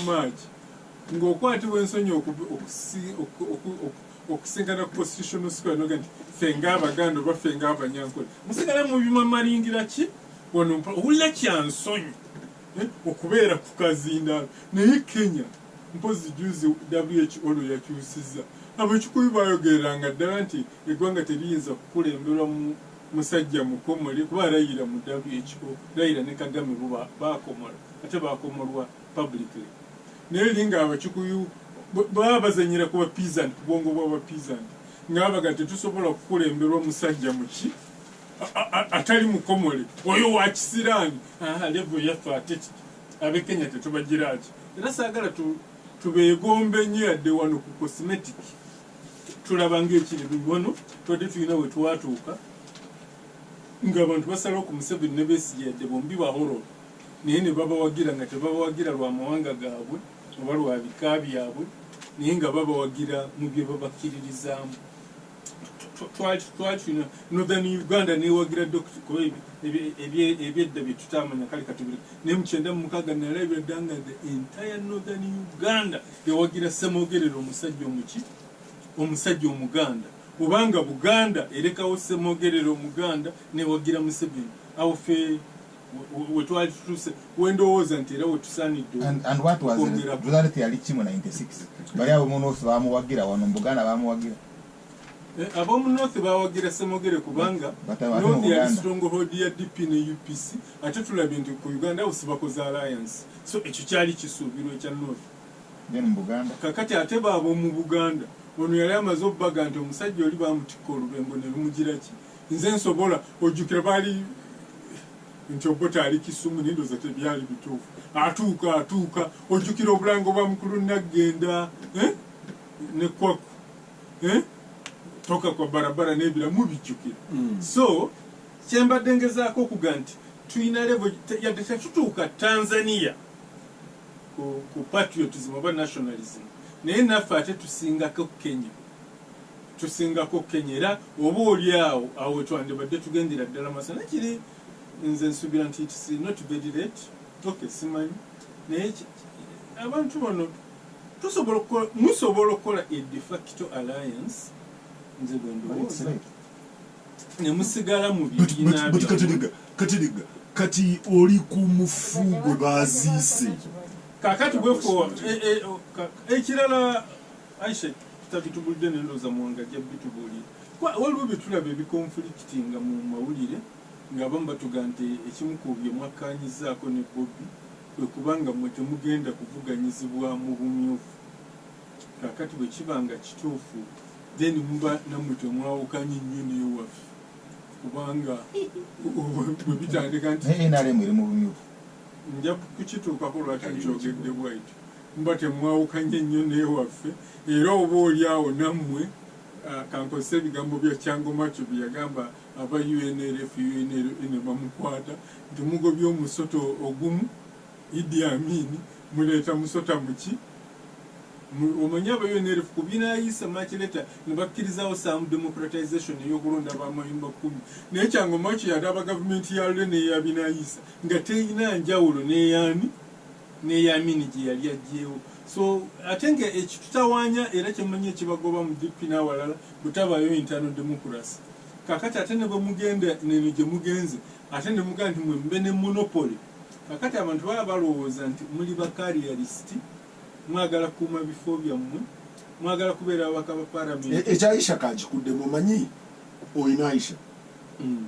March ng'okwatibwa ensonyi okusingana ku constitutional square noga nti ffe ng'abaganda oba ffe ng'abanyankole musigala mu bimamalingira ki wano owulira kya nsonyi eh, okubeera ku kazindaalo naye kenya mpozi juzi who olwo yakyusiza abakikuyu bayogereranga ddala nti eggwanga teriyinza kukulemberwa mu musajja mukomole kuba alayira mu who layira ne kagame bo bakomola ate bakomolwa publicly naye linga abakikuyu baba bazanyira kuba peasant kubwongo bwaba peasant ngabaga tetusobola kukulemberwa musajja muki atali mukomole oyo wakisiraani levo yaffe ate abekenya tetubagiraki era saagala tubeegombe nyo yadde wano ku cosmetic tulaba ngaekiri bibono twadde tulina wetwatuuka nga abantu basalawo ku museveni nebesiyadde bombi bahororo naye ne babawagira nga tebabawagira lwa mawanga gaabwe oba lwa bika byabwe naye nga babawagira mu bye babakkiririzaamu twakino northern uganda newagira dokita kuba ebyedda byetutamanya kale katubiri naye mukyenda mumukaga nalabira dda nga the entire northern uganda ewagira semogerera omusajja omuki omusajja omuganda obanga buganda erekawo semogerera omuganda newagira museveni awo fe wetwalitutuuse wendowooza nti era wetusaaniddeokwongerayali ali kimu 96 bali abo munosi bamuwagira wano mubuganda bamuwagira eh, abomunothi bawagira semogere kubanga noth yali stronghold ya dp ne upc ate tulabye nti ku uganda abo sibakoze alliance so ekyo kyali kisuubirwa ekya noth kakati ate baabo mu buganda ono yali amaze obubaga nti omusajja oli bamutikka olubembo ne lumugiraki Nze nsobola ojjukira baali nti Obote ali Kisumu naye ndowooza tebyali bituufu. Atuuka atuuka ojjukira obulango bwa mukulu Naggenda eh? ne Kwaku eh? toka kwa barabara n'ebirala mubijjukira. Mm. So kye mbadde ngezaako okuga nti tulina levo yadde tetutuuka Tanzania ku, ku patriotism oba nationalism naye naffe ate tusingako Kenya. tusingako Kenya era oba oli awo awo wetwandibadde tugendera ddala masa naye kiri nze nsubira nti it's not very late ok simanyi naye abantu bano tusobola okukola musobola okukola a de facto alliance nze bwendowooza ne musigala mu bibiina katiriga kati oli ku mufu gwe baziise kakati bwefo eh, eh, oh, ekirala Aisha tutabitubulidde ne ndowooza Muwanga ajja bitubuulira kuba waliwo bye tulaba ebikonfulikitinga mu mawulire ng'abamu batuga nti ekimu ku bye mwakkaanyizzaako ne Bobi kwe kuba nga mmwe temugenda kuvuganyizibwa mu bumyufu kaakati bwe kiba nga kituufu then muba nammwe temwawukanye nnyo n'ewaffe kubanga bwe bitandika nti nrm eri mu bumyufu nja kukituukako lwaki nkyogedde bwaityo Muba temwawukanye nnyo n'ewaffe era oba oli awo nammwe ah, kankozese ebigambo bya Chango Macho bye yagamba aba UNLF UNLA ne bamukwata nti mugobye omusota ogumu Idi Amin muleeta musota muki? Mu- Omanyi aba UNLF ku binaayisa much later ne bakkirizaawo some democratization ey'okulonda ba mayumba kkumi naye Chango Macho yali aba gavumenti ya Lule n'eya binaayisa nga terina njawulo n'eyaani neyamin gyeyali ajjewo so ate nga ekitutawanya era kyemanyi ekibagoba mu DP nawalala butabayo internal democracy kakati ate nebwemugenda neno gyemugenze ate nemugaa nti mwe mube ne monopoly kakati abantu baba balowooza nti muli ba carrialist mwagala kuuma bifo byammwe mwagala kubeera ababaka ba parliament ekya e, e, aisha kakikuddemu omanyi oyina aisha mm.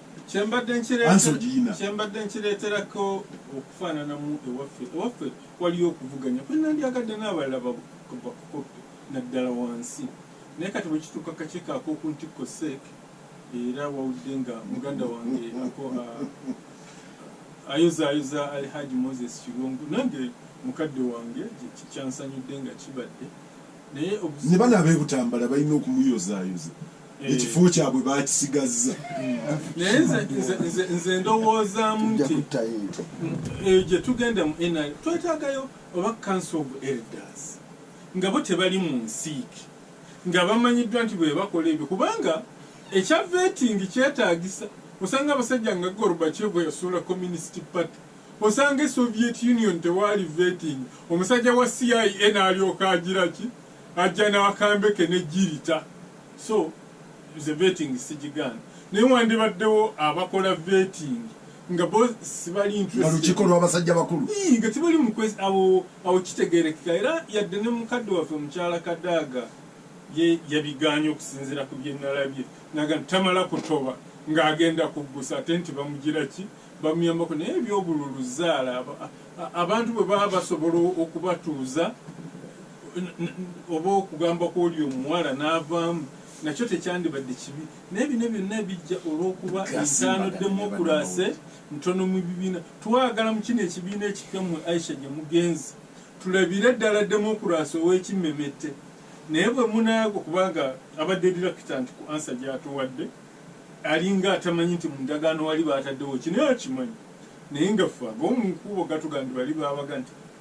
kyembadde nkireeterako okufaananamu ewaffe ewaffe waliyo okuvuganya kwenandyagadde n'abalala bakukoppe naddala wansi naye kati bwekituuka kakiiko ak'oku ntikko seek era wawudde nga muganda wange ako ayozaayoza alhaji moses kirungu nange mukadde wange kyansanyudde nga kibadde naye ne bano ab'ebutambala balina okumuyozaayoza eh. ekifo kyabwe bakisigazza naye nze ndowoozaamu nti eyo eh, gyetugenda mu nr twetagayo oba council of elders nga bo tebali mu nsiiki nga bamanyiddwa nti bwebakola ebyo kubanga ekya vetingi kyetagisa osanga abasajja nga gorbachev bweyasuula communist party osanga esoviet union tewaali vetingi omusajja wa cia naalyoka agiraki Ajja n'akambe ke ne jirita so nze vetting sigigaana naye wandibaddewo abakola vetting nga bo sibali interested. Nga lukiiko lw'abasajja bakulu. Ii nga tebali mu kwezi awo awo kitegeerekeka era yadde ne mukadde waffe mukyala Kadaga ye yabigaanye okusinziira ku bye nalabye nagamba nti tamala kutoba nga agenda kuggusa ate nti bamugira ki bamuyambako naye eby'obululu zzaala abantu bwe baba basobola okubatuuza oba okugamba kw'oli omuwala n'avaamu nakyo tekyandibadde kibi naye bino byonna ebijja olw'okuba entaano demokulase ntono mu bibiina twagala mu kino ekibiina ekipya mwe aisha gye mugenzi tulabire ddala demokulase ow'ekimmemette naye bwe munaago kubanga abadde dirakita nti ku ansa gyatuwadde alinga atamanyi nti mu ndagaano wali baataddewo kinaye akimanyi naye nga ffe ag'omu nkuubo gatuga nti bali baabaga nti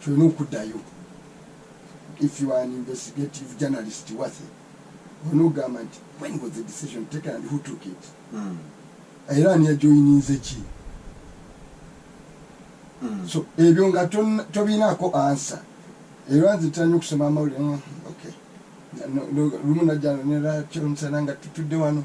kyolina okudayo if you are an investigative journalist wathe olina okugamba nti when was the decision taken and who took it hmm. era ani yajoyininze ki hmm. so ebyo nga tobinaako ansa era nze tanya okusoma amawulire hmm, lumu najjano nera kyonsana nga tutudde wano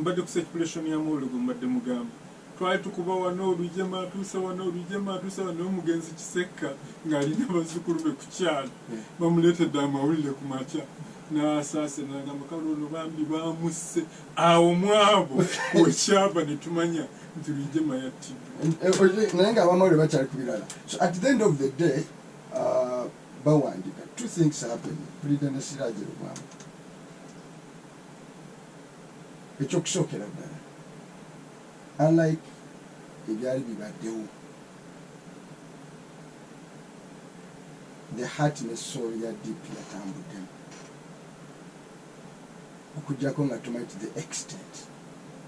mbadde ku circulation ya mawulire gwe mbadde mugamba twali tukuba wano olujema atuuse wano olujema atuuse wano omugenzi kisekka ng'alina bazzukulu be ku kyalo hmm. bamuleetedde amawulire ku makya n'asaase nagamba kale ono bambi bamusse awo mwabo wekyava ne tumanya nti lujema yattiddwa eh, eh, naye nga abamawulire bakyali ku birala so at the end of the day uh, bawandika two things happen pulida ne siraje lubamba ekyokusookera ddala alike ebyali bibaddewo the heart ne soul ya dp yatambuddemu okujjako nga tumanyi to the extent